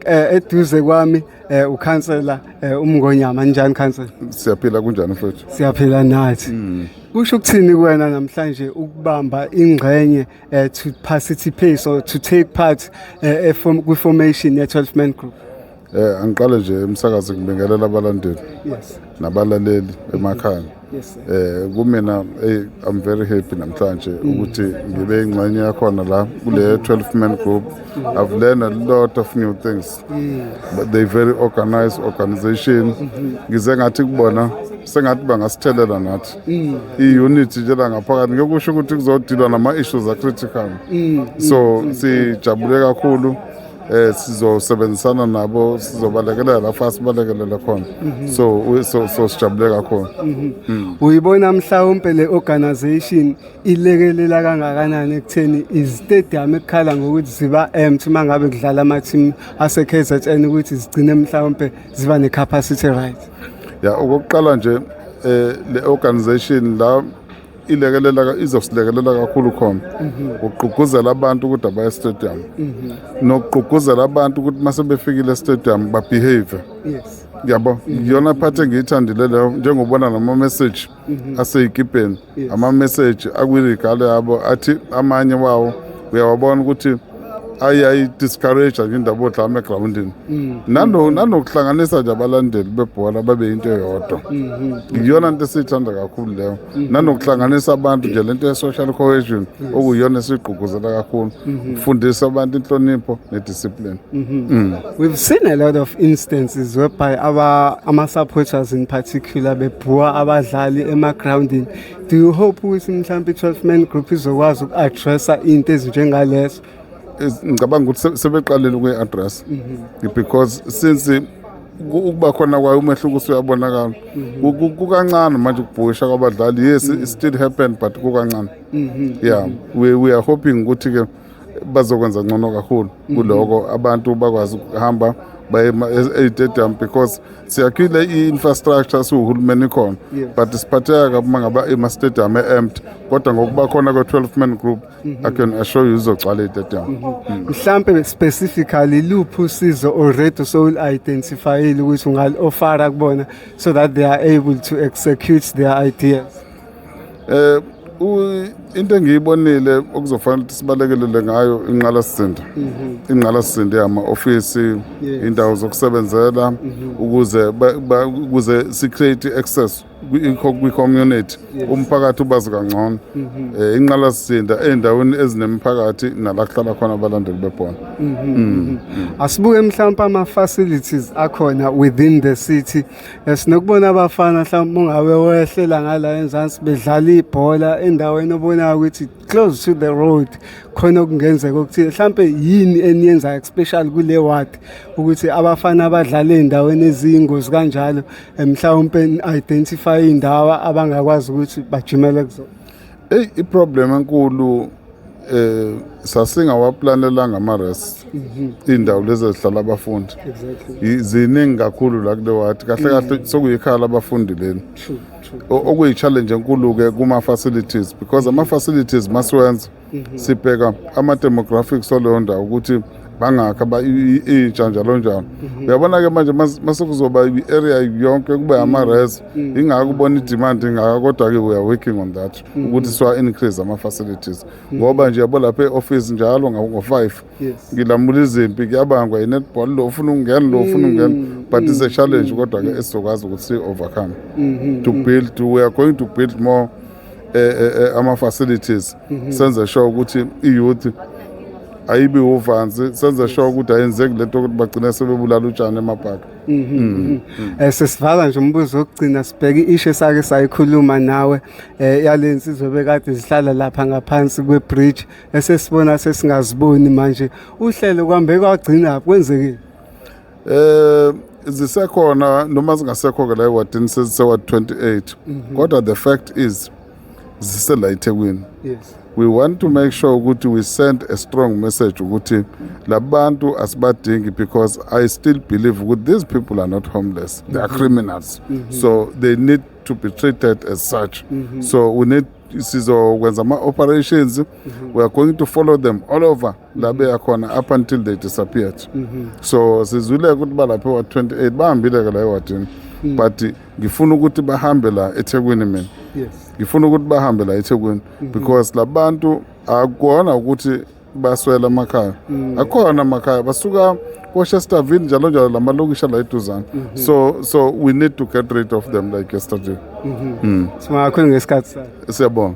Eh, eduze kwami eh, ukhansela eh, umngonyama njani khansela siyaphila kunjani mfowethu siyaphila nathi hmm. kusho ukuthini kuwena namhlanje ukubamba ingxenye to participate or to take part kwi-formation ye-12 man group eh angiqale nje umsakazi ngibingelela abalandeli yes nabalaleli emakhaya yes, eh kumina hey i'm very happy namhlanje mm. ukuthi ngibe ingxenye yakhona la kule 12 man group i've learned a lot of new things mm. but they very organized organization mm-hmm. ngize ngathi kubona sengathi bangasithelena nathi mm. i-unity nje la ngaphakathi ngiyokusho ukuthi kuzodilwa nama-issues a-critical so sijabule kakhulu eh sizosebenzisana nabo sizobalekelela la fast sibalekelele khona mhm. so so so sijabule kakhulu mhm. mm. uyibona mhlawumbe le organization ilekelela kangakanani ekutheni izitadium ekukhala ngokuthi ziba empty mangabe kudlala ama team ase KZN ukuthi zigcine mhlawumbe ziba ne capacity right ya okokuqala nje eh le organization la ilekelela izosilekelela kakhulu khona mhm. ugqugquzela abantu ukuthi abaye estadium mhm. nokugqugquzela abantu ukuthi uma sebefikile estadium babehave yes yabo iyona mhm. phathi engiyithandile leyo njengobona nama-message aseyikipeni ama-message akwiligalo yabo athi amanye wawo uyawabona ukuthi ayi ayi discourage nje indaba odlama egrawundini mm. nano nanokuhlanganisa nje abalandeli bebhola babe into eyodwa mm-hmm. iyona nto esiyithanda kakhulu leyo mm-hmm. nanokuhlanganisa abantu nje lento ye-social cohesion okuyiyona esigqugquzela kakhulu mm-hmm. ukufundisa abantu inhlonipho nediscipline mm. we've seen a lot of instances whereby ama-supporters in particular bebhuwa abadlali emagrawundini Do you hope ukuthi mhlawumbe i-12 man group izokwazi uku-addressa into ezinjengalezo? Ngicabanga ukuthi sebeqalile ukuyi-addressa mhm. because since ukuba khona kwayo umehluko usuyabonakala mhm. kukancane manje ukubhusha kwabadlali yes it mhm. still happen but kukancane yeah we, we are hoping ukuthi-ke bazokwenza ngcono kakhulu mhm. kuloko abantu bakwazi ukuhamba baye e-stadium because siyakhile i-infrastructure siwuhulumeni khona but siphatheka kabi uma ngaba ema-stadium e-empty kodwa ngokuba khona kwe-12 man group mhm. i can assure you izogcwala i-stadium mhm. mm. mhlampe specifically luphi usizo already sowul-identifyile ukuthi ungal-ofara kubona so that they are able to execute their ideas um into engiyibonile okuzofanele ukuthi sibalekelele ngayo inqalasizinda mhm. inqalasizinda yama-ofisi indawo zokusebenzela mhm. ukuze ukuze si-create i-access kwi-community umphakathi ubazi kangcono um inqalasizinda ey'ndaweni ezinemiphakathi nala kuhlala khona abalandeli bebhola mm. asibuke mhlawumpe ama-facilities akhona within the city sinokubona abafana mhlawumbe ungabe wehlela ngala enzansi bedlala ibhola endaweni obonayo ukuthi close to the road khona okungenzeka okuthile mhlawumbe yini eniyenzayo especially kule ward ukuthi abafana abadlala ey'ndaweni eziyingozi kanjalo mhlawumpe identify iy'ndawo abangakwazi ukuthi bajimele kuzona Eyi iproblem enkulu eh sasingawaplanelanga ama-rest iy'ndawo lezi ezihlala abafundi I- ziningi kakhulu la kule wadi kahle kahle sekuyikhaya labafundi leli O- okuyi-challenge enkulu-ke kuma-facilities because ama-facilities masiwenza sibheka ama-demographics waleyo ndawo ukuthi bangakha intsha njalo njalo mhm. uyabona ke manje masekuzoba i-area yonke kube ama-res mm. mm. ingako ubona i-demand ingaka kodwa-ke we are working on that mm. ukuthi siwa-increase ama-facilities ngoba nje yabo lapha e-office njalo ngo-five ngilamula izimpi kuyabangwa i-netball lo ufuna ukungena lo ufuna ukungena but it's a challenge kodwa-ke esizokwazi ukuthi si-overcome mm-hmm. to build we are going to build more eh, eh, eh, ama facilities mhm. senze sure ukuthi i youth ayibi uvansi senze sure ukuthi ayenzeki lento ukuthi bagcine sebebulala utshani emabhaka mhm, mhm. mm. eh, sesivala nje umbuzo wokugcina sibheke ishe sake sayikhuluma nawe eh, yale nsizwa bekade zihlala lapha ngaphansi kwebridge esesibona sesingaziboni manje uhlelo kwambe kwagcina kwenzekile Eh zisekhona noma zingasekho ke la ewadini seziseward 28 mhm. kodwa the fact is zisela eThekwini yes we want to make sure ukuthi we send a strong message ukuthi labantu asibadingi because i still believe ukuthi these people are not homeless they are mhm. criminals mhm. so they need to be treated as such so we need sizokwenza ama-operations mm -hmm. we are going to follow them all over la beya khona up until they disappeared mm -hmm. so sizwile ukuthi balapha ewa-28 bahambile-ke la ewadini mm. but ngifuna ukuthi bahambe la ethekwini mina yes. ngifuna ukuthi bahambe la ethekwini mm -hmm. because labantu akukona ukuthi baswela amakhaya mm. akhona amakhaya basuka kochesterville njalo njalo la malokishi ala eduzane mm -hmm. so so we need to get rid of them like yesterday mm -hmm. mm. singakhona ngesikhathi siyabonga